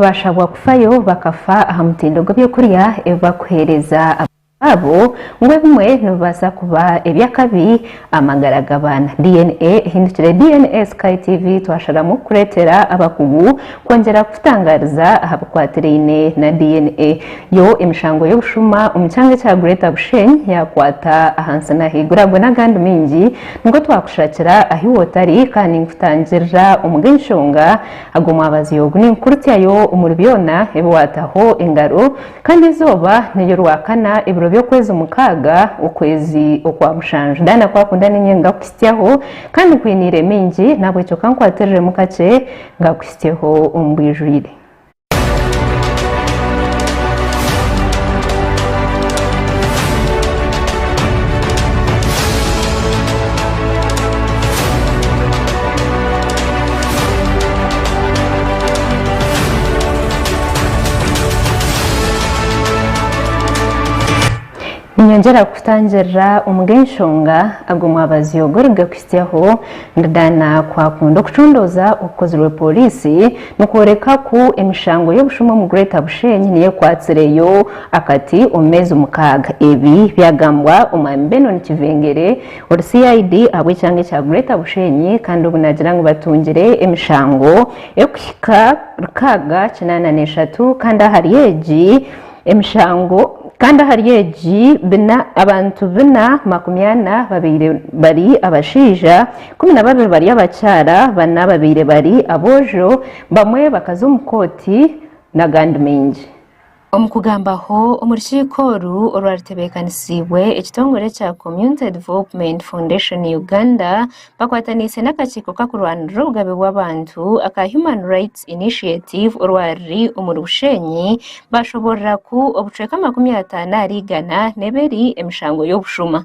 Baashabwa kufayo bakafa aha mutindo gw'eby'okurya ebi barikuheereza abaana baabo, ngu ebimwe nibibaasa kuba eby'akabi aha magara g'abaana. DNA ehindukire DNA Sky TV twasharamu kukureetera abakugu kwongyera kukutangaariza aha bikwatiraine na DNA. Yo emishango y'obushuma omu kyanga ekya Greater Bushenyi yaakwata ahansi n'ahaiguru. Ago n'agandi maingi nikwo twakushakira ahu iwe otari kandi ninkutangirira omu g'enshonga Ago mwabazi ogu ni nkurutya yo omuri byona ebi wataho engaro, kandi eizooba neryo rwakana ebiro by'okwezi mukaaga, okwezi okwa mushanju. Daana ku akunda niinye ngakuhitsyaho, kandi nkwiniire mingi, nahabwekyo ka nkwatiriremu kakye ngakuhitsyeho omu bwijwire. Ninyongyera kukutangirira omu g'enshonga ago omwabazi ogu origakuhitsyaho. Ndidana ku akunda okucundooza okukozirwe pooriisi nikworeka ku emishango y'obushuma omu Greater Bushenyi niyo ekwatsireyo akati omu meezi mukaaga. Ebi byagambwa omwami Benon Kivengere, Ori CID ahabw'ekyanga ekya Greater Bushenyi kandi obu naagira ngu batungire emishango erikuhika rukaaga kinaana n'eshatu kandi ahari egi emishango kandi ahari egi bina abantu bina makumi ana babaire bari abashaija, kumi na babiri bari abakyara, bana babaire bari aboojo, bamwe bakaza omu kooti n'agandi maingi. Omu kugambaho omu rukiiko oru orwaritebeekanisiibwe ekitongore kya Community Development Foundation Uganda bakwataniise n'akakiiko kakurwanirira obugabe bw'abantu aka Human Rights Initiative orwariri omuri Bushenyi baashoboorora ku obucweka makumi ataano ahari igana n'ebiri emishango y'obushuma.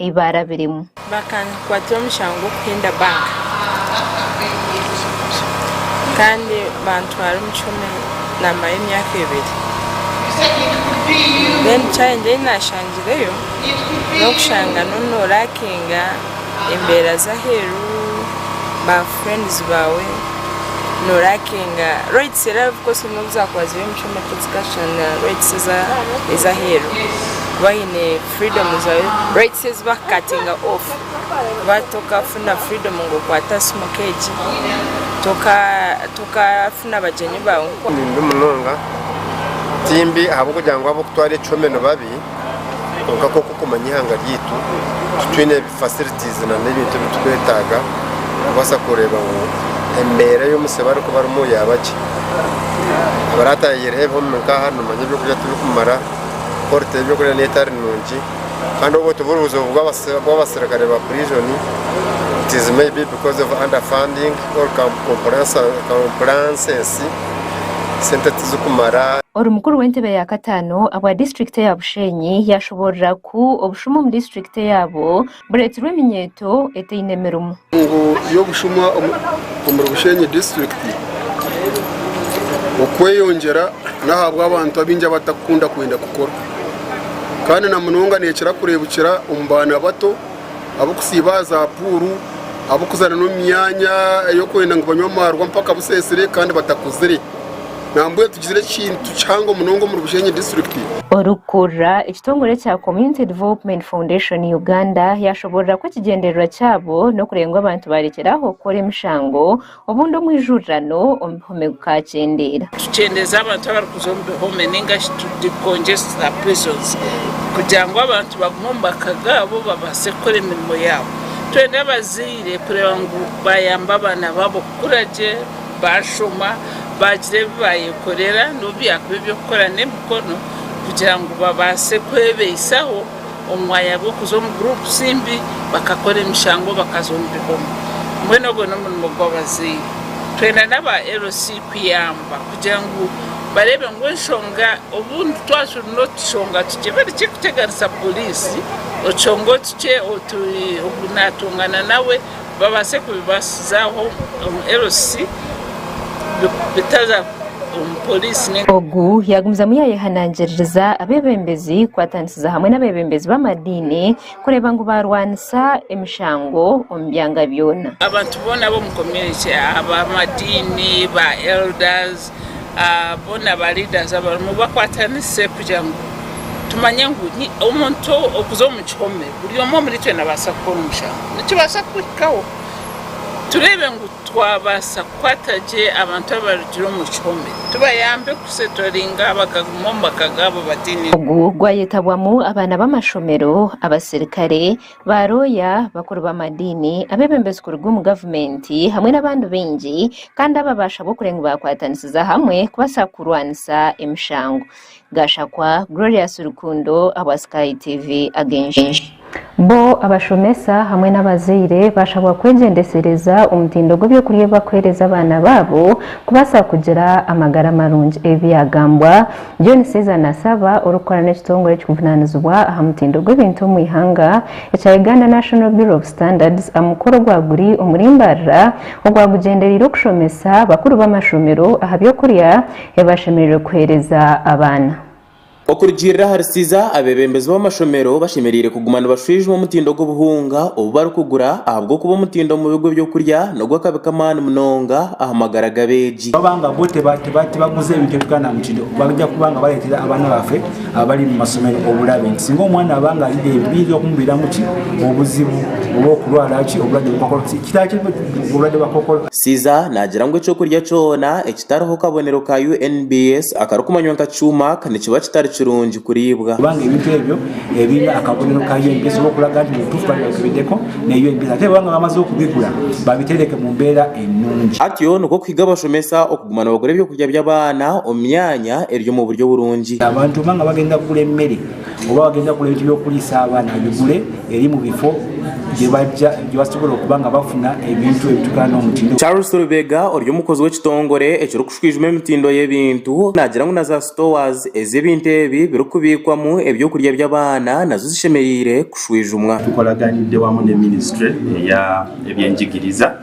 ei baarabiremu. Bakankwatira omushango gw'okuhinda banka kandi bantwara omu kihomi naamarayo emyaka ebiri. Then challenge ei naashangireyo n'okushanga n'ori nooraakinga embeera z'aheeru, ba friends baawe, nooraakinga rates era of course n'obu zaakuba ziri omu kihomi tizikashushana na rates ez'aheeru kuba haine freedom zaawe rights ezi ba cutting off kuba tokafuna freedom ngu okwate simu nka egi tokafuna bagyenyi baawe nka oku. Nimbi munonga timbi ahabw'okugira ngu ab'okutwara ekihome nibabi kwonka nk'oku okumanya eihanga ryaitu titwine facilities na n'ebintu ebi tukwetaaga kubaasa kureeba ngu embeera ei omutsyo bari kubarimu yaaba gye abarataahireho ebi home nka aha nimanya eby'okurya tibikumara. ku orita eby'okurya n'etari nungi kandi obwo tiburi buzibu bw'abaserukare ba purizoni, it is maybe because of underfunding or compliances, sente tizikumara. Ori mukuru w'entebe ya kataano abwa disiturikiti eya Bushenyi yashoborora ku obushuma omu disiturikiti eyabo Bureetirwe eminyeeto etaine mirimu. Enkungu y'obushuma omuri Bushenyi disiturikiti okweyongyera n'ahabw'abantu abaingi abatarikukunda kwenda kukora kandi na munonga neekira kureebukira omu baana bato ab'okusiiba aha za puuru, ab'okuzaana n'omu myanya ey'okwenda ngu banywe amaarwa mpaka buseesire kandi batakuzire. Nambwenu tugizire ekintu kihango munonga omuri Bushenyi District. Orikukurira ekitongore kya Community Development Foundation Uganda yashoboorora ku ekigyendererwa kyabo n'okureeba ngu abantu baarekyeraho kukora emishango obundi omu ijurirano omu bihome gukaakyendeera. Tukyendeeza abantu abarikuza omu bihome nainga shi tu decongesta prisons kugira ngu abantu bagume omu maka gaabo babaase kukora emirimo yaabo. Twenda abazaire kureeba ngu baayamba abaana baabo kukura gye. baashoma, baagira ebi baayekorera n'obu byakuba eby'okukora n'emikono kugira ngu babaase kwebaisaho omu mwanya gw'okuza omu guruupusi mbi bakakora emishango bakaza omu bihome. Mbwenu ogwo n'omurimo gw'abazaire. Twena n'aba LC kuyamba kugira ngu bareebe ngu enshonga obundi twaba turi n'otushonga tukye bari kirikuteganisa pooriisi, otushonga otukye otu naatongana nawe, babaase kubibaasizaaho ngu LC bitaza omu poriisi. Ogu yaagumizamu yaayehanangiririza abeebembezi kukwatanisiza hamwe n'abeebembezi b'amadiini kureeba ngu baarwanisa emishango omu byanga byona. Abantu boona b'omu community, ab'amadiini, ba elders, boona ba leaders abarimu bakwatanise kugira ngu tumanye ngu omuntu okuza omu kihome buri omwe omuritwe nabaasa kukora omushango nikibaasa kukuhikaho tureebe ngu twabaasa kukwata gye abantu abarugire omu kihome tubayambe kusetoringa bakaguma omu maka gaabo bataine ogu gwayetabwamu abaana b'amashomero, abasirikare, Baaroya, bakuru b'amadiini, abeebembezi kuruga omu gavumenti hamwe n'abandi baingi kandi aba baashabwa okureba ngu baakwatanisiza hamwe kubaasa kurwanisa emishango. Gashakwa Glorious Rukundo ahabwa Sky TV Ag'enshonga. Bo abashomesa hamwe n'abazaire baashabwa kwegyendesereza omutindo gw'eby'okurya ebi bakuheereza abaana baabo kubaasa kugira amagara marungi. Ebi byagambwa John Caesar Nassaba orikukora n'ekitongore ekirikuvunaanizibwa aha mutindo gw'ebintu omu ihanga ekya Uganda National Bureau of Standards aha mukoro ogwa guri omuri Mbarara ogwa gugyendereire okushomesa bakuru b'amashomero aha by'okurya ebi bashemereire kuheereza abaana. Okurugiirira ahari Caesar, abeebembezi b'amashomero bashemereire kuguma nibashwijuma omutindo gw'obuhunga obu barikugura ahabw'okuba omutindo omu bigo eby'okurya nigwo akabi k'amaani munonga aha magara g'abeegi. Twabanga bo tibaguza ebintu ebi twananukire, baija kubanga bareetera abaana baffe abari omu mashomero oburabe. Singa omwana abanga ari reeru, biija kumubiramu ki? Obuzibu bw'okurwara ki? Oburwade bwa kookolo. Kitaha ki oburwade bwa kookolo? Siza naagira ngu eky'okurya kyona ekitariho kabonero ka UNBS akarikumanywa nka Chumak nikiba kitari kirungi kuriibwa. Kubanga ebintu ebyo ebiine akabonero ka UNBS oba okuraga nti nituufu, barikureeba ngu bibideko ne UNBS. Ate bwabanga bamaze okubigura, babiteereke mu mbeera. enungi. Atyo nikwo kuhiga abashomesa okuguma nibagura ebyokurya by'abaana omu myanya eri omu buryo burungi. Abantu obumwe nga bagenda kugura emere oba bagenda kugura ebintu by'okuriisa abaana babigure eri mu bifo byebasobola okuba nga bafuna ebintu ebitukura n'omutindo. Charles Rubega ori omukozi w'ekitongore ekiri kushwijuma emitindo y'ebintu nagira ngu na za stores ezi ebintu ebi biri kubiikwamu ebyokurya by'abaana nazo zishemereire kushwijumwa. Tukolaganidde wamu ne ministry eya eby'enjigiriza.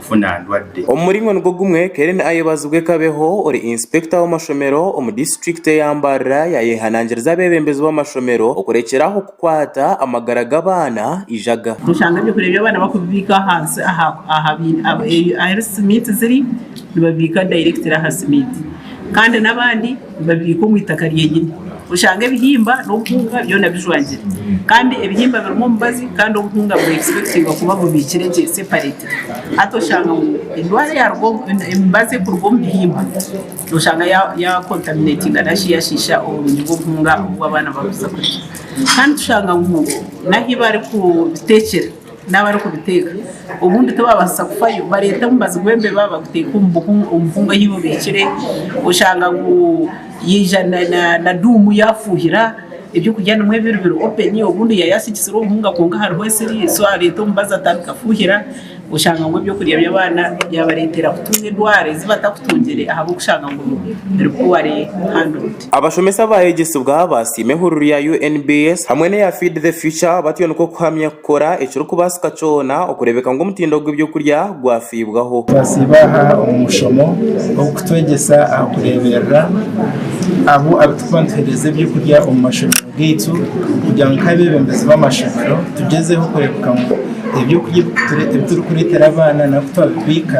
kufuna ndwadde. Omu muringo nigwo gumwe, Keren Ayebazibwe Kabeho, ori Inspector w'amashomero omu disiturikiti eya Mbarara yayehanangiriza abeebembezi b'amashomero okurekyera aho kukwata amagara g'abaana eijaga. Nooshanga eby'okurya by'abaana bakubibiika ahansi ahu health meet ziri, nibabibiika directly aha health meet kandi n'abandi. Nibabiika omu itaka ryenyine. Oshanga ebihimba n'obuhunga byona bijwangire. Kandi ebihimba birimu omubazi kandi obuhunga buri expectingwa kuba bubiikire gye, separated. Hati oshanga ngu endwara eyaruga omu, emibazi ekuruga omu bihimba, noshanga ya, ya contaminatinga nashi yashiisha oburungi bw'obuhunga obu abaana bakuza kurya. Kandi tushanga ngu n'ahi barikubiteekyera. n'abarikubiteeka obundi tibabaasisa kufayo bareeta omubazi gw'embeba baguteeka omu buhunga ahi bubiikire oshanga ngu yaija na duumu yaafuuhira ebyokurya nimwo ebiri biri openi obundi yaaba yaasigikire obuhunga kwonka hariho esiri so areeta omubazi atandika kufuuhira oshanga ngu ebyokurya by'abaana byabareetera kutunga endwara ezi batakutungire ahabw'okushanga ngu biri puwari handoodi. Abashomesa baayegyesibwa baasiima ehururu ya UNBS hamwe n'eya Feed the Future batyo nikwo kuhamya kukora ekirikubaasika kyona okureebeka ngu omutindo gw'eby'okurya gwafiibwaho. Twasiiba aha omu mushomo ogukutwegyesa aha kureeberera abo abarikuba nituheereza eby'okurya omu mashomero gaitu kugira ngu nk'abeebembezi b'amashomero tugyezeho kureebeka ngu eby'okurya ebi turikureetera abaana nari ku twabibiika,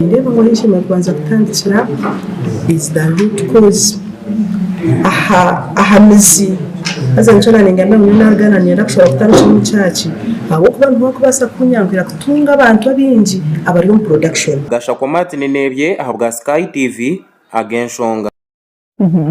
Nindeeba ngu ahu nshemeriire kubanza kutandikira is the root cause aha aha mizi haza nikyo naringa ngu nyowe naagana niinyenda kushaba kutandikira omu church ahabw'okuba niho orikubaasa kunyanguhira kutunga abantu abaingi abari omu production. Gashakwa Martin Nebye ahabwa Sky TV, Agenshonga.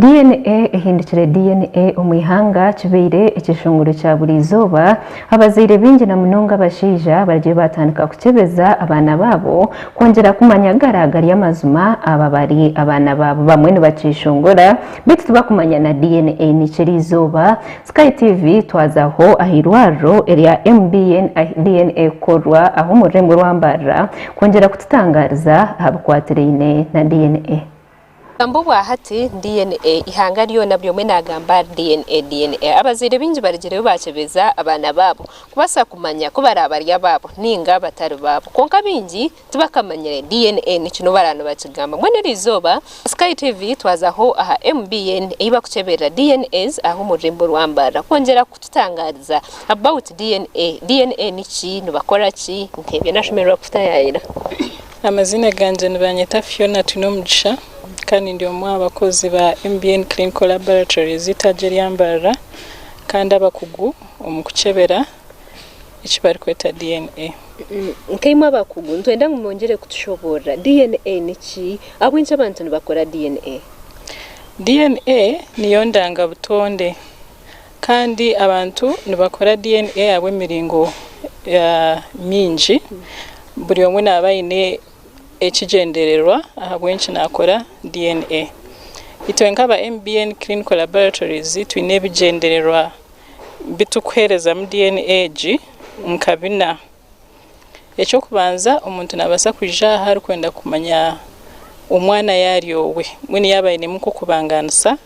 DNA ehindukire DNA omu ihanga kibaire ekishunguuro kya buri izooba, abazaire baingi na munonga abashaija barigye baatandika kukyebeza abaana baabo kwongyera kumanya gara gari amazima aba bari abaana baabo. Bamwe nibakyeshongora beitu tibakumanya na DNA niki eri izooba. Sky TV twazaho aha irwariro erya MBN ahi DNA ekukorwa aha omururembo rwa Mbarara kwongyera kututangaariza aha bikwatiraine na DNA. Obugambo bwa hati, DNA, eihanga ryona buri omwe naagamba DNA, DNA. Abazaire baingi barigireyo baakyebeza abaana baabo kubaasa kumanya ku baraabe bari abaabo nainga batari baabo. Kwonka baingi tibakamanyire DNA niki n'obu baraabe nibakigamba. Mbwenu eri izooba Sky TV twazaho aha MBN ei barikukyeberera DNAs aha omu rurimi rw'Ambarra kwongyera kututangaariza about DNA. DNA niki? Nibakora ki? Nk'ebyo nashemererwa kutaayaayira. Amaziina gangye nibanyeta Fiona Twinomugisha kandi ndi omwe aha bakozi ba MBN Clinical Laboratories eitaagi erya Mbarara kandi abakugu omu kukyebera eki barikweta DNA. Nkaimwe abakugu nitwenda ngu mwongyere kutushoboorora DNA niki? Ahabw'enki abantu nibakora DNA? DNA niyo ndangabutonde. Kandi abantu nibakora DNA ahabw'emiringo mingi. Buri omwe naaba aine ekigyendererwa ahabw'enki naakora DNA. Itwe nk'aba MBN Clinical Laboratories twine ebigyendererwa bi turikuheerezamu DNA egi nka bina. Eky'okubanza omuntu naabaasa kwija aha arikwenda kumanya omwana yaaba ari owe, mbwenu yaaba ainemu nk'okubangaanisa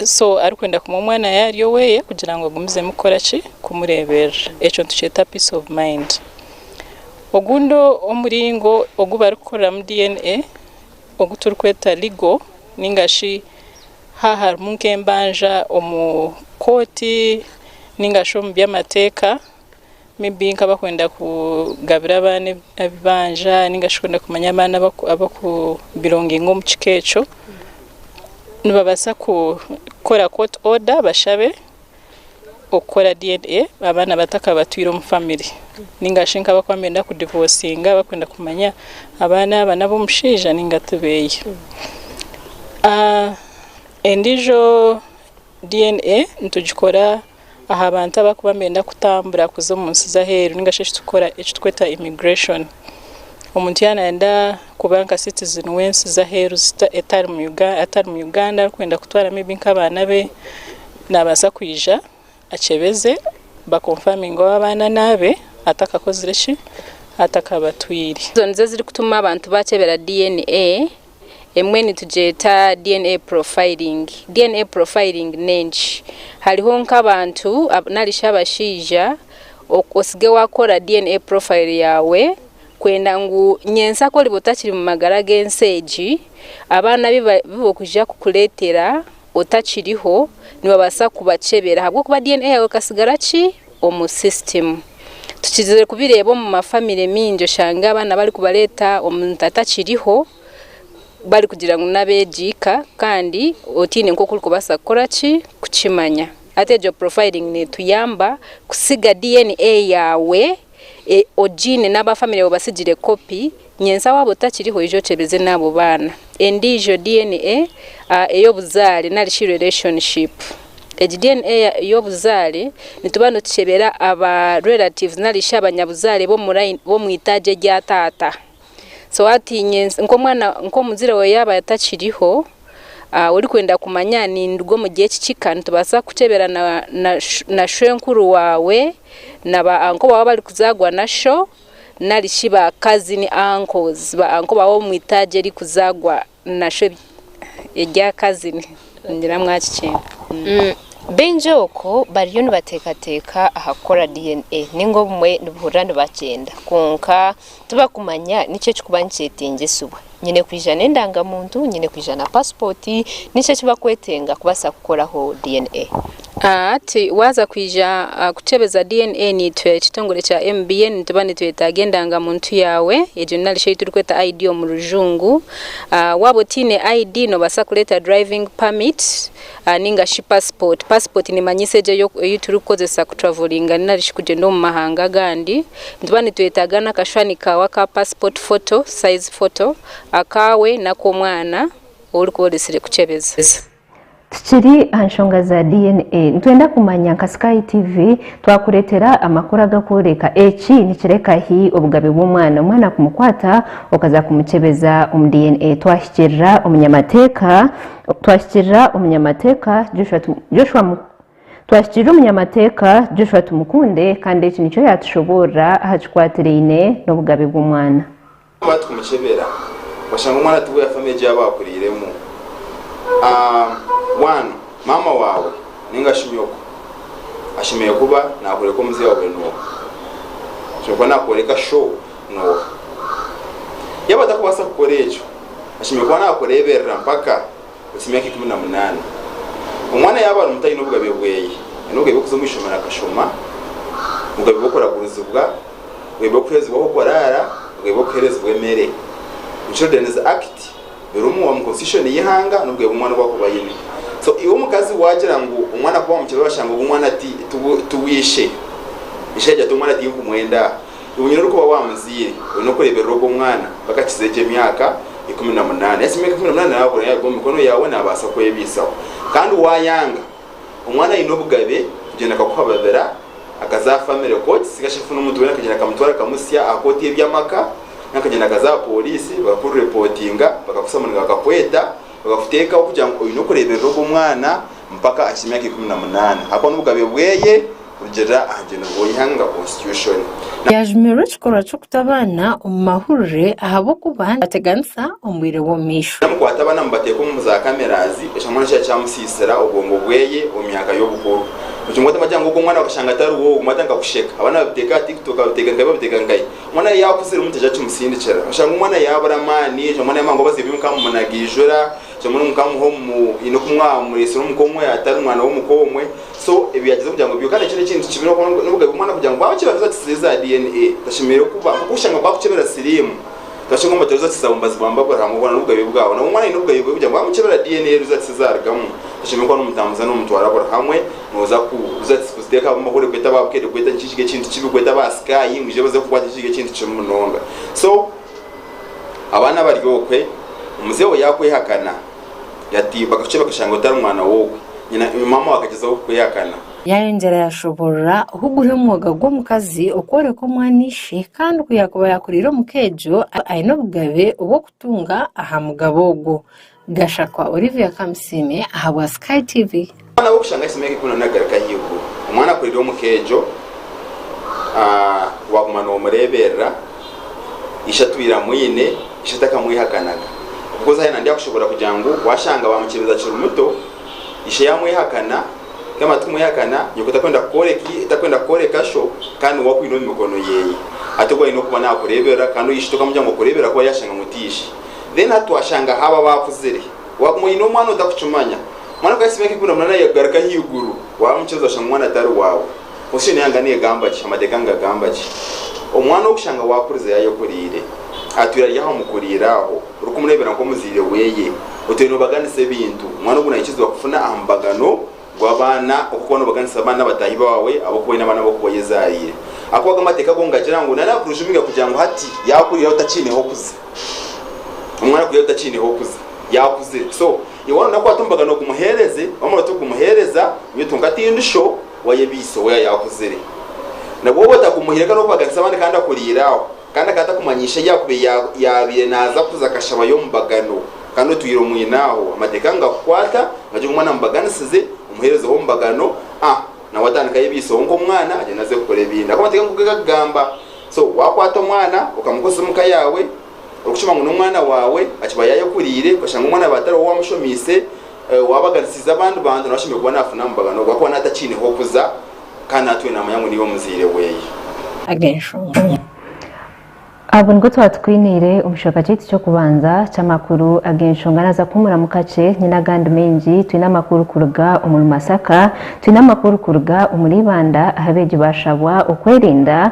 So arikwenda kumwa omwana yaaba ari oweye kugira ngu agumizemu kukora ki? Kumureeberera. Ekyo nitukyeta peace of mind. Ogundi omuringo ogu barikukoreramu DNA ogu turikweta legal nainga shi haaba harimu nk'embanja omu kooti nainga shi omu by'amateeka, Maybe nkaba kwenda kugabira abaana ebibanja ninga shi kwenda kumanya abaana abaku belonginga omu kika ekyo. Nibabasa kukora court order bashabe okukora DNA abaana batakabatwire omu family. Ninga shi nkaba kuba nibenda ku divorcinga bakwenda kumanya abaana aba n'ab'omushaija ninga tibeye. Endijo DNA nitugikora aha bantu abakuba nibenda kutambura kuza omu nsi z'aheeru ninga shi eki tukweta immigration. Omuntu ya nayenda kuba nka citizen w'ensi z'aheeru atari mu Uganda arikwenda kutwara may be nka abaana be nabasa kwija akyebeze ba confirminge oba abaana n'abe atakakozire ki? Atakabatwire. Ezo nizo ezirikutuma abantu bakyebera DNA. Emwe nitugyeta DNA profiling. DNA profiling n'enki? Hariho nk'abantu nari shi abashaija otsige waakora DNA profile yaawe kwenda ngu nyentsya ku oriba otakiri mu magara g'ensi egi, abaana abu barikwija kukureetera otakiriho, nibabaasa kubakyebera ahabw'okuba DNA yaawe ekasigara ki? omu system. Tukizire kubireeba omu ma family mingi oshange abaana bari kubareeta omuntu atakiriho bari kugira ngu n'abegi ika kandi otiine nkoku ori kubasa kukora ki kukimanya. Hati egyo profiling netuyamba kusiga DNA yaawe ogiine n'aba family baawe basigire copy. Nyentsya waaba otakiriho ija okyebeze n'abo baana. Endiijo DNA a ey'obuzaare nari shi relationship. Egi DNA ya ey'obuzaare nituba nitukyebera aba relatives nari shi abanyabuzaare b'omu line b'omu itaagi erya taata. So hati nyentsya nk'omwana nk'omuzaire waawe yaaba atakiriho a orikwenda kumanya ninduga omuri eki kika nitubaasa kukyebera na na na shwenkuru waawe na ba uncle baawe abarikuzaagwa na sho. nari shi ba kazini, uncles, ba uncle baawe omu itaagi erikuzaagwa na shwe erya kazini. Ningira mwakikyenda. Baingi oku bariyo nibateekateeka aha kukora DNA, nainga obumwe nibuhurira nibakyenda, kwonka tibakumanya niki ekirikuba nikyeteengyesibwa. Nyine kwija n'endangamuntu, nyine kwija na pasipooti, niki eki bakwetenga kubaasa kukoraho DNA? Hati waaza kwija kukyebeza DNA, naitwe ekitongore kya MBN nituba nitwetaaga endangamuntu yaawe, egyo nari shi ei turikweta ID omu rujungu. Waaba otaine ID, noobaasa kureeta driving permit, Ninga shi pasipooti. Pasipooti neemanyiisa egyo ei turikukozesa kutravoriinga nari shi kugyenda omu mahanga agandi. Nituba nitwetaaga n'akashushani kaawe aka pasipooti foto, sayizi foto, akaawe n'ak'omwana ou orikuba oresire kukyebeza. Tukiri aha nshonga za DNA, nitwenda kumanya nka Sky TV twakureetera amakuru agakworeka eki nikireka hi obugabe bw'omwana. Omwana kumukwata okaza kumukyebeza omu DNA. Twahikirira omunyamateeka. Twahikirira omunyamateeka Joshua Joshua Twahikirira omunyamateeka Joshua Tumukunde kandi eki nikyo yaatushoboorora aha kikwatiraine n'obugabe bw'omwana. Twamara tukumukyebera twashanga omwana tiwe yafa n'egi yaaba akuriiremu. Bwanu maama waawe nainga shi nyooko ashemereire kuba naakworeka omuzeeyi waawe nooha? Ashemereire kuba naakworeka shoo nooha? Yaaba atakubaasa kukora ekyo, ashemereire kuba naakureeberera mpaka ohisya emyaka ikumi na munaana. Omwana yaaba ari muto aine obugabe bweye. Aine obugabe bw'okuza omu ishomero akashoma, obugabe bw'okuragurizibwa, obugabe bw'okuheerezibwa ahu kuraara, obugabe bw'okuheerezibwa emere. Omu Children's Act birimu, omu Constitution y'eihanga n'obugabe obu omwana arikuba aine. So iwe omukazi waagira ngu omwana kuba waamukira orashanga ogu omwana ti ti ti w'eishe. Eishe yaagira ati omwana tinkumwenda aha. Obwo nyina orikuba waamuzaire oine okureeberera ogwo mwana mpaka akize egyo emyaka ikumi na munaana. Yaakiza emyaka ikumi na munaana naabura yaaruga omu mikono yaawe naabaasa kwebiisaho. Kandi waayanga, omwana aine obugabe kugyenda akakuha babira akaza aha famire kooti nari shi afune omuntu weena akagyenda akamutwara akamutsya aha kooti y'ebyamaka nari akagyenda akaza aha pooriisi bakakuripootinga bakakutsya ngu nibakakweta bakakuteekaho kugira ngu oine okureeberera ogwo mwana mpaka akize emyaka ikumi na munaana ahakuba n'obugabe bweye. Rugiirira aha rugendo rw'eihanga rwa Konstitushoni. Yaajumirwe ekikorwa ky'okuta abaana omu mahurire ahabw'okuba nibateganisa omu bwire bw'omumaisho. Namukwata abaana amubateeka omu za cameras, ekyamwana kikaba kyamusiisira obwongo bweye omu myaka y'obukuru. Omutima gwatandika kugira ngu ogu omwana wakashanga atari woowe, obumwe atandika kusheka. Abaana babiteeka aha tiktok, babiteeka nkahi babiteeka nkahi. Omwana yeye yaakuzire omuntu aija kimusindikira. Oshanga omwana yaabura amaani, oshanga omwana yaamanya ngu abaziire be mukaba mumunaga eijura, oshanga omwana mukaba muha omu, haine oku mwaba mumureetsire omuka omwe atari mwana w'omuka omwe. So ebi yagize kugira ngu bihukane ekyo n'ekintu kibireho konka n'obugabe bw'omwana kugira ngu bwaba kibaruza kiti ziri za DNA tashemereire kuba nk'oku oshanga bakukyebera siriimu noshanga omubateruza kiti za bumbazi bwa Mbabura hangwa hoona n'obugabe bwabo nabwo omwana aine obugabe bwe kugira ngu bamukyebera DNA eruza kiti zarugamu toshemereire kuba nomutambuza nomutwara buri hamwe noza kuruza kiti kuziteka ahabw'omu bahurire kweta aba bukedde kweta nikyo kiri ekintu kibi kweta aba sky ngu ije baze kukwata nikyo kiri ekintu kibi munonga so abaana bari okwe omuzeeyi obu yakwehakana. Yatimba akashushani bakashanga ngu tari mwana w'ogwe nyina, maama we akagyezaho kukwihakana. Yaayongyera yaashoboorora oku guri omwoga gw'omukazi okworeka omwana ishe kandi ku yaakuba yaakuriire omu ka egyo aine obugabe obw'okutunga aha mugabo ogwo. Gashakwa Olivia Kamusiime ahabwa Sky TV. Omwana we kushanga ahitsya emyaka ikumi na munaana garuka ahaiguru. Omwana akurira omu ka egyo, waguma nomureberera, ishe atwire amwine, ishe takamwehakanaga. Coz haine nandi akushoboorora kugira ngu washanga bamukyebeza akiri muto, ishe yamwehakana, yamara tikumwehakana, nyoko takwenda kukworeka takwenda kukworeka sho kandi niwe akwine omu mikono yeye. Hati ogu ayine okuba nakureberera kandi ogu ishe tokamugira ngu akureberera ahakuba yashanga ngu ti ishe. Then hati twashanga haba abakuzire, waguma oyine omwana otakukimanya, Omwana kugahisa emyaka ikumi na munaana yakugaruka ahaiguru, waamukiza oshanga omwana tari waawe. Constitution ya Uganda negamba ki? Amateeka nigagamba ki? Omwana orikushanga waakuriza yaayekuriire, atwire ari aha mukuriire aho, orikumureebera nk'omuzaire weeye, otwire noobaganisa ebintu, omwana ogu naikiriza kufuna aha mubagano gw'abaana okuba noobaganisa abaana bataahi baawe ab'okuba oine abaana ab'okuba oyezaariire. Ahakuba ago amateeka go nigagira ngu nari akurujumirira kugira ngu hati yaakurira otakiineho kuza. Omwana akurira otakiineho kuza, yaakuzire. So. Yowaana obu nakwata omubaga n'ogumuheereze, wamara otagumuheereza, nyowe tunka tindusho waye beiso we ayakuzire. Nabwo obu otagumuhaire ka n'okubaganisa abandi kandi akuriire aho, kandi akaba atakumanyiisha yaakubaire ya yaabaire naaza kuza kashabayo omubagano, kandi otwire omwine aho, amateeka nigakukwata, ngagira omwana amubaganisize, omuheerezeho omubagano, a nabwo atandika ahe beiso we nk'omwana agyende aze kukora ebindi. Ahabw'okuba amateeka nkoku gakugamba, so wakwata omwana okamukoresa omu ka yaawe, orikukima ngu n'omwana waawe akiba yaayekuriire, okashanga omwana waawe atari wowe owaamushomiise, owaabaganisiize abandi bantu, nawe ashemereire kuba naafuna amabagano ahabw'okuba ahakuba naaba atakiineho kuza kandi naatwire naamanya ngu niiwe muzaire we. Ag'enshonga ahabwo nibwo twaba tukwiniire omu kicweka kyaitu ky'okubanza ky'amakuru ag'enshonga. Naaza kuhuumuramu kakye, nyine agandi maingi. Twine amakuru kuruga omuri Masaka, twine amakuru kuruga omuri Ibanda ahu abeegi baashabwa okwerinda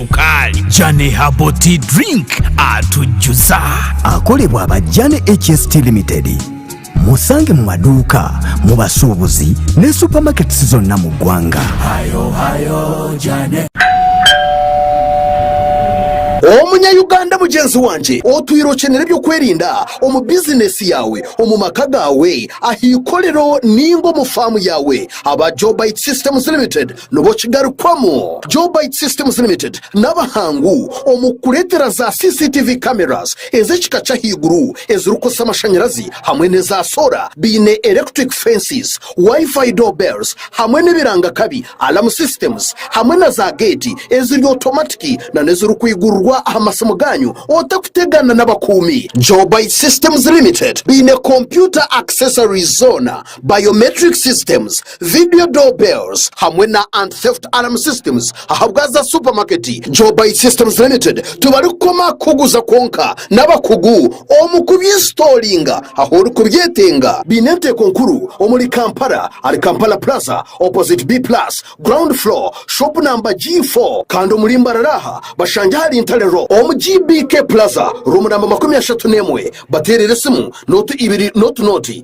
sukaali. Jane Herbal Tea Drink atujuza. Akorebwa aba Jane HST Limited. Musange mu maduuka, mu basuubuzi ne supamaketisi zonna mu ggwanga. Omunya-Uganda mugyenzi wangye otwire okyenera eby'okwerinda omu bizinesi yaawe, omu maka gaawe, ah'eikorero nainga omu faamu yaawe, aba Joe Bite Systems Limited Nubwo kigarukwamu, Jobyte Systems Limited n'abahangu omu kureetera za CCTV cameras ez'ekika ky'ahaiguru ezirikukozesa amashanyarazi hamwe n'eza soora baine electric fences, Wi-Fi door bells hamwe n'ebiranga kabi, alarm systems, hamwe na za geeti eziri otomatiki nana ezirikwiigurirwa aha masimu gaanyu otakutegaana n'abakuumi. Jobyte Systems Limited baine kompyuta accessories zoona biometric systems, video door bells hamwe na anti theft alarm systems ahabwaza supermarket Joybuy systems limited tibarikukoma kukuguza kwonka n'abakugu omu kubyinstoolinga ahu orikubyetenga. Baine enteeko nkuru omuri Kampala ahari Kampala Plaza opposite B plus ground floor shop namba G four kandi omuri Mbarara aha bashangye ahari Ntale road omu GBK Plaza room namba makumi ashatu n'emwe bateerere esimu notu ibiri n'otunooti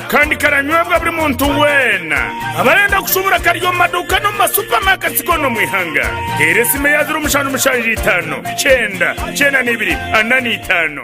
kandi karanywebwa buri muntu weena. Abarenda kushubura kari omu maduuka n'omu masupamaketi goona omu ihanga. Teera esimu eya zeero mushanju mushanju itaano kyenda kyenda na ibiri ana na itaano.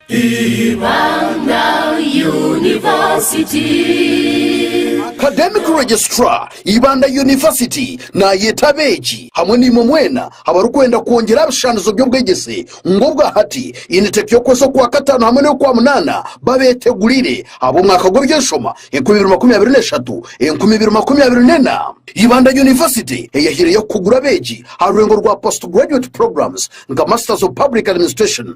Ibanda University. Academic Registrar, Ibanda University naayeeta abeegi hamwe naimwe mwena abarikwenda kwongyera aha bishushanizo by'obwegyese ngu obwa hati, Initec y'okwezi okwa kataano hamwe n'ey'okwa munaana babeetegurire ab'omwaka gw'eby'enshoma enkumi ibiri makumi abiri n'eshatu, enkumi ibiri makumi abiri n'ena. Ibanda University eyahaireyo kukugura abeegi aha rweengo rwa Postgraduate Programs nka Masters of Public Administration,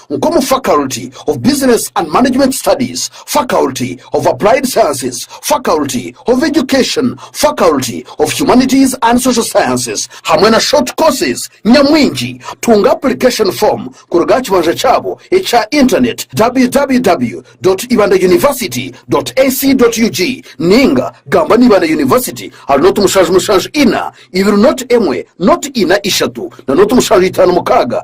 nk'omu Faculty of Business and Management Studies, Faculty of Applied Sciences, Faculty of Education, Faculty of Humanities and Social Sciences hamwe na Short Courses nyamwingi. Tunga Application Form kuruga aha kibanja kyabo ekya Internet, www.ibandauniversity.ac.ug ninga gamba na Ibanda University ahari noti mushanju mushanju ina ibiri noti emwe noti ina ishatu na noti mushanju itaano mukaaga.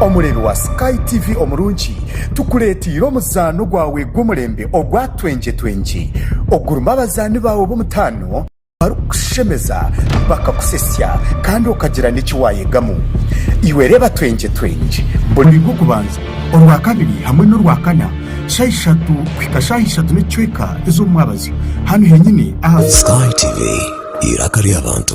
Omureebi wa Sky TV omurungi, tukureeteire omuzaano gwawe gw'omurembe ogwa Twengye Twengye, ogurimu abazaani baawe b'omutaano, barikukushemeza bakakusesya kandi okagira n'eki waayegamu. Iwe reeba twengyetwengye buri. Oiga okubanza, orwa kabiri hamwe n'orwa kana shaaha ishatu kuhika shaaha ishatu n'ekicweka ez'omu mwabazyo hanu henyini aha. Sky TV, eiraka ry'abantu.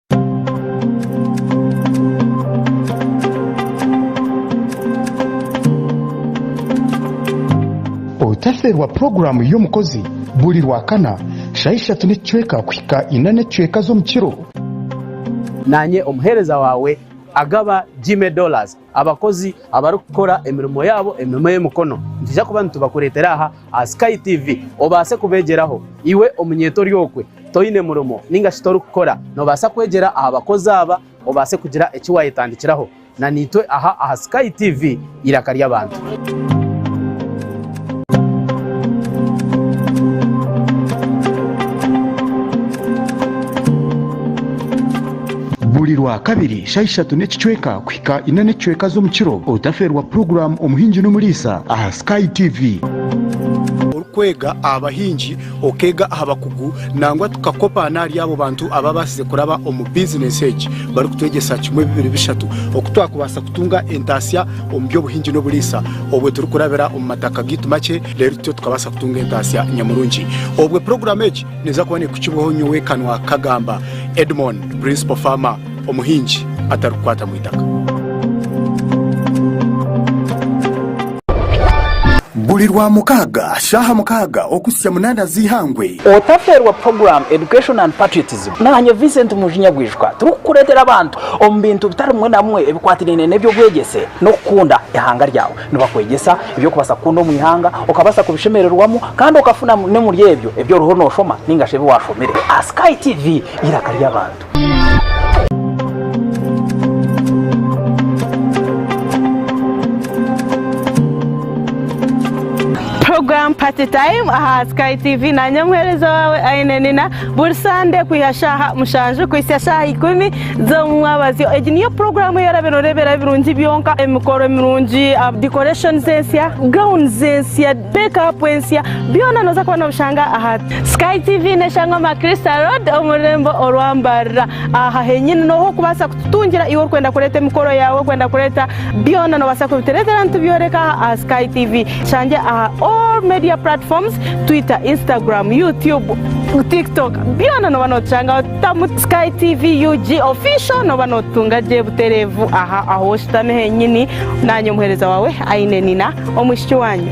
Otaferwa puroguramu y'omukozi buri Rwakana shaaha ishatu n'ekicweka kuhika ina n'ekicweka z'omu kiro. Naanye omuheereza waawe agaba Gyme Dollars. Abakozi abarikukora emirimo yaabo, emirimo y'emikono, nitwija kuba nitubakureetera aha aha Sky TV obaase kubeegyeraho. Iwe omunyeeto ori okwe, toine murimo nainga shi torikukora, noobaasa kwegyera aha bakozi aba obaase kugira eki waayetandikiraho. Na naitwe aha aha Sky TV, eiraka ry'abantu. Buri Rwakabiri shaaha ishatu n'ekicweka kuhika ina n'ekicweka z'omu kiro otafeerwa puroguraamu Omuhingi n'Omuriisa aha Sky TV. Orikwega aha bahingi, okeega aha bakugu nangwa tukakopa n'ahari abo bantu abaabaasize kuraba omu bizineesi egi barikutwegyesa kimwe, bibiri, bishatu oku twakubaasa kutunga entaasya. omu by'obuhingi n'oburiisa obwe turikurabira omu mataka gaitu makye reero tutyo tukabaasa kutunga entaasya nyamurungi obwe puroguraamu egi neeza kuba nekukibwaho nyowe kanwa kagamba Edmon Principal Farmer omuhingi atarikukwata mu itaka. Buri Rwamukaaga shaaha mukaaga okuhitsya munaana z'eihangwe. Otaferwa Program Education and Patriotism Naanye Vincent Munju Nyagwijukwa turikukureetera abantu omu bintu bitari bimwe na bimwe ebikwatiraine n'eby'obwegyese n'okukunda eihanga ryawe. Nibakwegyesa eby'okubaasa kukunda omu ihanga, okabaasa kubishemererwamu kandi okafuna n'omuri ebyo ebi oriho nooshoma nainga shi ebi waashomire aha Sky TV eiraka ry'abantu. Puroguramu Party Time aha Sky TV. Naanye omuheereza waawe Ainenina. Buri Sande kwiha shaaha mushanju kuhitsya shaaha ikumi z'omumwabazyo. Egi niyo puroguramu ei orabe noreeberaho ebirungi byonka, emikoro mirungi, decorations ensya, gowns ensya, make up ensya, byona noza kuba nobishanga aha. Sky TV neshangwa Macrista Road omu rurembo orwa Mbarira. Aha henyini noho okubaasa kututungira iwe orikwenda kureeta emikoro yaawe, orikwenda kureeta byona nobaasa kubitureetera nitubyoreka aha aha Sky TV. Tushange aha all media platforms, Twitter, Instagram, YouTube, Tiktok, byona noba notushangaho. Tamu Sky TV UG official noba notutunga gye butereevu aha ahu oshutami henyini. Naanye omuheereza waawe Ainenina omwishiki waanyu.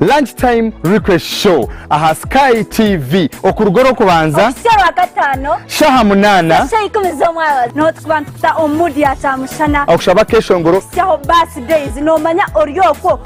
Lunch time request show aha sky TV okuruga orw'okubanza kuhitsya rwakataano shaha munaana kuhitsya ikumi z'omwabazyo niho tukuba nitukuta omu mood ya kyamushana okushaba akeshongoro kuhitsyaho birthdays noomanya ori okwo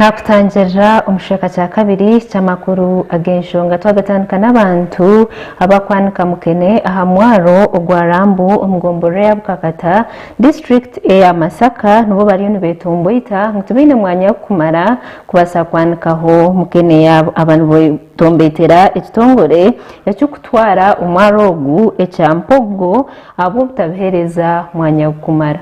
Nkakutangirira omu kicweka kya kabiri ky'amakuru ag'enshonga twagatandika n'abantu abakwanika mukene aha mwaro ogwa Rambu omu gomborora eya Bukakata district eya Masaka nibo bariyo nibetomboita ngu tibaine mwanya gukumara kubasa kwanikaho mukene yabo aba nibetomboitera ekitongore Ekirikutwara omwaro ogu ekya Mpogo ahabw'obutabiheereza mwanya gurikumara.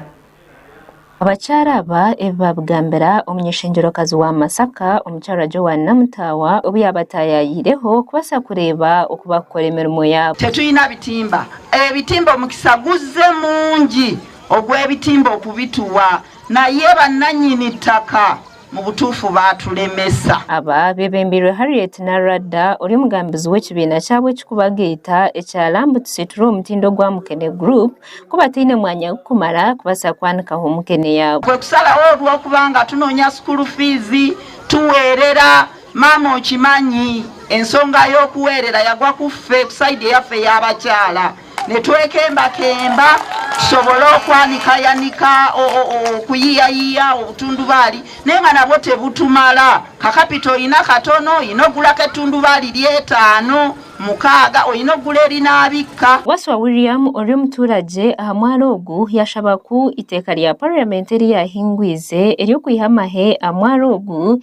Abakyara aba ebi baabigambira omunyeshengyero-kazi wa Masaka, omukyarwa Joan Namutaawa obu yaabataayayiireho kubaasa kureeba oku baakukora emirimo yaabo. Tetwina bitimba. Ebitimba omukisa guze mungi ogw'ebitimba okubituwa naye bananyini ttaka. Mu butuufu baatulemesa. Aba beebembirwe Harriet Naradda ori omugambizi w'ekibiina kyabo ekikubagaita ekya Lambu Tusiture Omutindo gwa Mukene Group ku bataine mwanya gukumara kubaasa kwanikaho mukene yaabo. Kwe kusalaho orw'okuba nga tunoonya sukuuru fiizi tuweerera. Maama okimanyi, ensonga y'okuweerera yagwa ku ffe, ku sayidi eyaffe ey'abakyala. Nitwekembakemba tusobole okwanika yanika okuyiyayiya obutundubaali naye nga nabwo tebutumara. Ka kapito oyine akatono, oyine okugura ak'etundubaali ry'etaano, mukaaga, oyine okugura erinaabikka. Waswa William ori omuturagye aha mwaaro ogu yashaba ku iteeka rya parliament eryahingwiize ery'okwiha amahe aha mwaaro ogu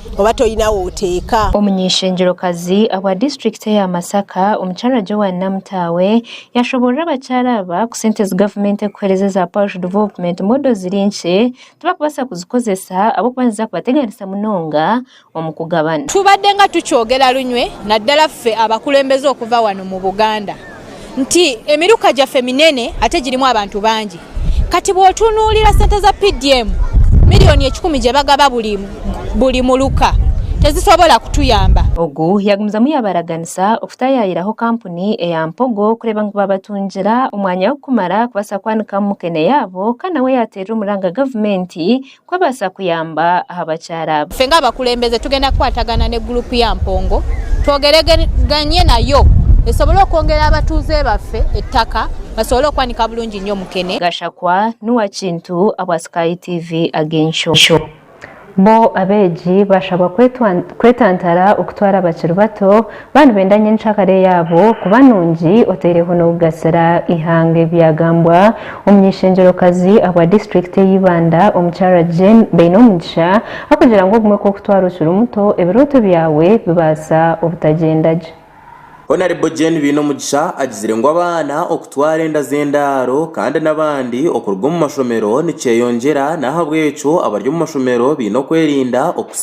oba toine ahu oteeka. Omuny'eishengyero-kazi obwa disiturikiti eya Masaka, Omukyara Joan Namutaawe, yashoboorora abakyara aba ku sente ezi gavumenti erikuheereza eza Parish Development Model ziri nkye, tibarikubaasa kuzikozesa ahabw'okuba niziza kubateganisa munonga omu kugabana. Tubaddenga tukyogera lunywe naddala ffe abakulembeze okuva wano mu Buganda. nti emiruka gyaffe minene ate girimu abantu bangi. Kati bw'otunuulira sente za PDM, miriyoni ekikumi gye bagaba buri buri muruka tezisobola kutuyamba. Ogu yagumizamu yaabaraganisa okutaayaayiraho kampuni eya Mpogo kureeba ngu baabatungira omwanya w'okumara kubaasa kwanikamu mukene yaabo kandi nawe yaateerera omuranga gavumenti Kubaasa kuyamba aha bakyara. Ffe ng'abakulembeze tugenda kukwatagana ne guruupu ya mpongo twogereganye nayo esobole okwongera abatuuze baffe ettaka basobole okwanika bulungi nnyo mukene. Gashakwa n'owa Kintu abwa Sky TV Ag'enshyo. Bo abeegi bashaba kwetantara okutwara abakiri bato Baba nibenda ngu encakare yaabo kuba nungi oteireho n'okugasira eihanga ebyagambwa omunyeshengyerokazi abwa disiturikiti eye Ibanda omukyara Jane Bainomugisha akugira ngu obumwe kwokutwara okiri muto ebirooto byawe bibaasa obutagyenda gye. Honarebo Jane Bainomugisha agizire ngu abaana okutwara enda z'endaaro kandi n'abandi okuruga omumashomero nikyeyongyera n'ahabwekyo abari omumashomero baine okwerinda okusiga.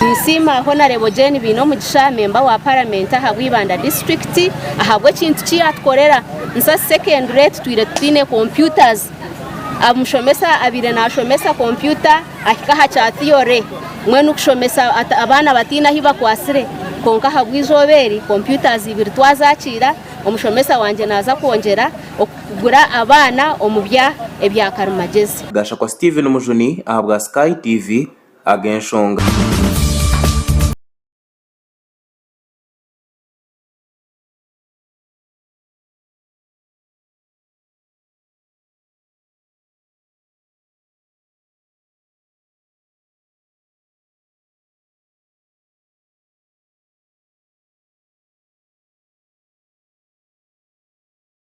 Ninsiima Honarebo Jane Baineomugisha, memba wa paramenti aha bw'eibanda disiturikiti ahabw'ekintu ki yaatukorera. Nsasi Secondary tutwire tutaine computers. Omushomesa abaire naashomesa kompyuta ahika aha kya theory mbwenu kushomesa abaana bataine ahu bakwatsire. Kwonka ahabw'eizooba eri, computers ibiri twazakiira, omushomesa wangye naaza kwongyera. kugura abaana omu bya ebya karimagyezi. Gashakwa Steven Mujuni ahabwa Sky TV Ag'enshonga.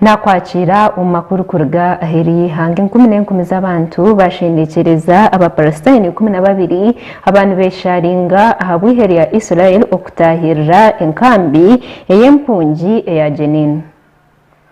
Nakwakiira omu makuru kuruga aheeru y'eihanga. Enkumi n'enkumi z'abantu baashendekyereza Abapalasitaini ikumi na babiri aba nibeesharinga aha bwihe rya Israel okutaahirira enkambi ey'empungi eya Jenin.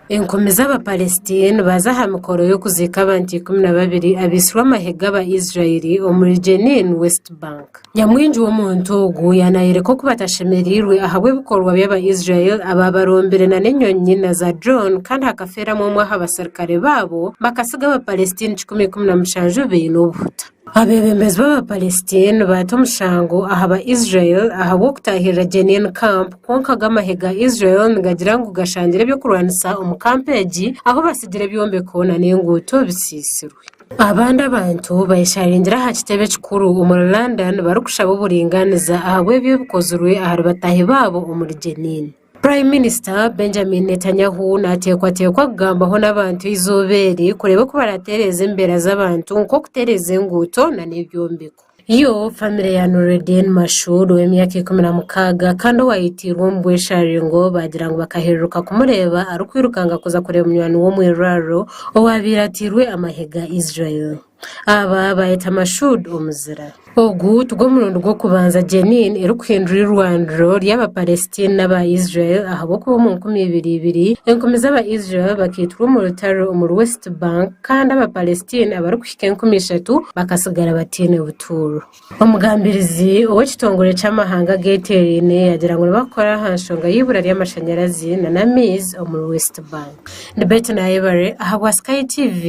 Enkumi z'Abapalestina nibaza aha mikoro y'okuziika abantu ikumi na babiri abaitsirwe amahega aba Israel omuri Jenin, West Bank. Nyamwingi w'omuntu ogu yaanaayoreka oku batashemereirwe ahabw'ebikorwa by'Abaisraeli abaabarombire n'enyonyi na zaadrone kandi hakafeeramu omwe aha baserukare baabo, bakatsiga Abapalestine kikumi ikumi na mushanju baine obuhuta. Abeebembezi b'Abapalestine baata omushango aha Baisraeli ahabw'okutaahirira Jenin Camp, kwonka go amahe ga Israel nigagira ngu gashangire eby'okurwanisa omu kampu egi, ahu batsigire ebyombeko n'enguuto bitsiitsirwe. Abandi abantu bayesharingyire aha kitebe kikuru omuri London barikushaba oburingaaniza ahabw'ebi ebikozirwe ahari bataahi baabo omuri Jenin. Prime Minister Benjamin Netanyahu nateekwateekwa kugambaho n'abantu eizooba eri kureeba oku baratereeza embeera z'abantu nk'okutereeza enguuto nana ebyombeko. Yo, famire ya Nureddin Mashood ow'emyaka ikumi na mukaaga kandi owaayetiirwe omu bwesharingo baagira ngu bakahererukka kumureeba arikwirukanga kuza kureeba munywani we omu irwariro owaabaire atairwe amahega Israel. Aba baayeta Mashood omuzira. Ogu tigw'omurundi gw'okubanza Jenin erikuhindura irwariro ry'aba Palestine n'aba Israel ahabw'okuba omu nkumi ibiri ibiri, enkumi z'aba Israel bakaitirwa omu rutaro omuri West Bank kandi aba Palestine abarikuhiga ab'ekicweka enkumi ishatu bakatsigara bataine butuuro. Omugambirizi ow'ekitongore ky'amahanga ageteeraine yaagira ngu nibakora aha nshonga y'eibura ry'amashanyarazi nana amaizi omuri West Bank. Ndi Betty Nayebare ahabwa Sky TV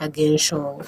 ag'enshonga.